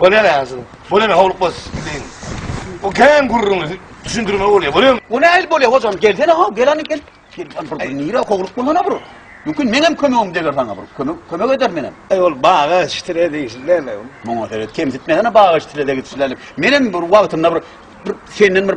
Bolýar ýa şu. Bolýar howluk bas diýin. O kän gürrüňi düşündirme bolýar. Bolýar. O nähili bolýar hojam gelsene ha gel hany gel. Bir nire howluk bolana bir. Mümkin meňem kömegim deger saňa bir. Kömek kömek eder menem. Eý ol baga şitire diýişilene. Muňa seret kemsitmesene baga şitire degitişileni. Menem bir wagtynda bir bir senden bir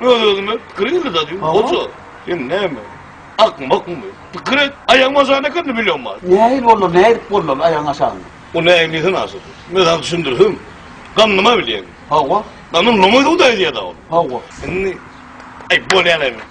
Öz özüme pikir ýürüdä diýdim. Hoja, sen näme? Akmy, bakmy? Pikir et, aýagyň aşagynda ekeni bilýän bar. Nähili boldy, näme edip boldy aýagyň aşagynda? O nähili diýsene aşa. Menzäň düşündirişim, ganyma bilýän. Hawa. Ganyň loňy suwda ýüzýär-dä ol. Hawa. Indi, aý, bolýan-a.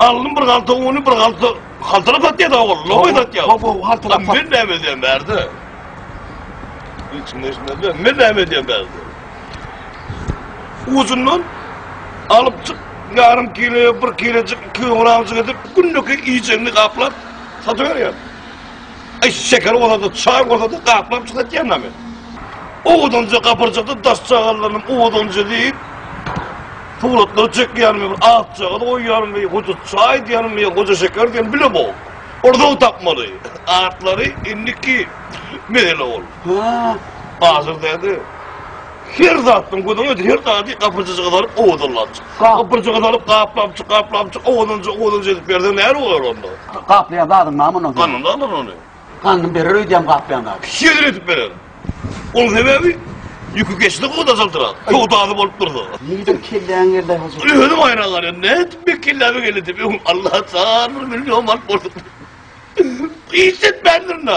Aldym bir galta uny, bir galta haltalap satýar-da ogul, lowy satýar. Gowy haltalap satýar. Men näme edýän bärde? Hiç kim eşitmez ben. Men näme edýän bärde? Uzundan alyp çyk, ýarym kilo, bir kilojik, iki kilogramjyk edip, günlük iýjegini gaplap satyberýär. Aý şeker bolsady, çaý bolsady gaplap çykatyana men. Owudanja gapyrjakda daş çagalanym owudanja diýip Suratlar çekýänim bir ak çagal goýýarym we hoja çaý diýýänim we hoja şeker diýýänim bile bol. Orda tapmaly. Atlary indiki mesele ol. Ha, hazir däde. Her zatdan gözüň özi, her zady gapyjyja gyzaryp owadanlapjyk. Gapyjy gyzaryp gaplapjyk, gaplapjyk, owadanja, owadanja edip berseň nähili bolar onda? Gaplaýan zadyň name ondan soň? Ganyny alar ony. Ganyny berer öýdýäň gaplaýan zady. Şeýle edip berer. Onuň sebäbi ýüki geçse gowy dajaldyrak, söwdasy bolup dursa. Nireden kelläňe geldi aý hoja? Indi özüm haýran galýan. Nädip meň kelläme geldi diýip. Öň Alla jan bir million manat borçluk. Hiç etmändirin-ä.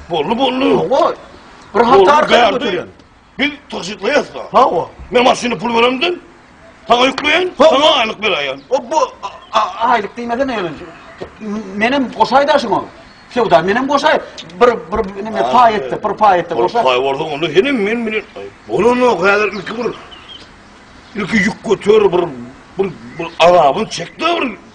Bolly bolly. Hawa. Bir hata arkaýyn götürýän. Biz tygşytlaýas da. Hawa. Men maşyny pul beremden. Saňa ýükleýän, saňa aýlyk beräýen. O bu aýlyk diýmese ne ýalan. Menem goşaýda şoňa. Söwda menem goşaý. Bir bir nime paý etdi, bir paý etdi goşaý. Paý bolsa onda henem men bilen. Bolany häzir ilki bir. Ilki ýük götür bir bir bir azabyn çekdi bir.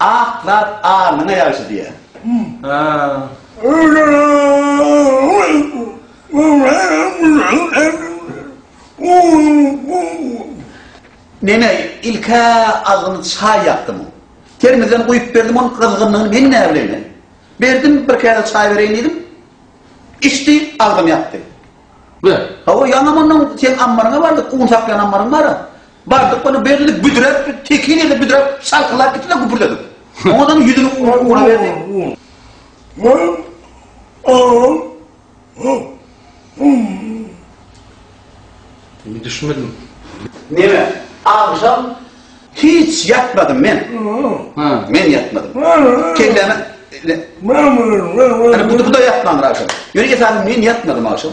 Ak zat alnyňa ýagşy diýýär. Meme ilk-ä agzyny çaý ýakdym. Termizden guýup berdim onuň gyzgynlygyny men näbileýin-le. Berdim, bir käse çaý bereýin diýdim. Içdi, agzyny ýakdy. Ber. Hawa, ýaňa mundan seň ammaryňa bardyk, un saklaýan ammaryň bar-a. Bardyk ony belli büdräp, tekin ýerde büdräp, şalkylap gitdi-de güpürdedik. Oňadan ýüzüni ura berdi. Wah, aw, haw, hum. Men düşmedim. Neme, agşam hiç ýatmadym men. Ha. Men ýatmadym. Kelläme. Ana bu-da ýatmandyr agşam. Ýöne esasan men ýatmadym agşam.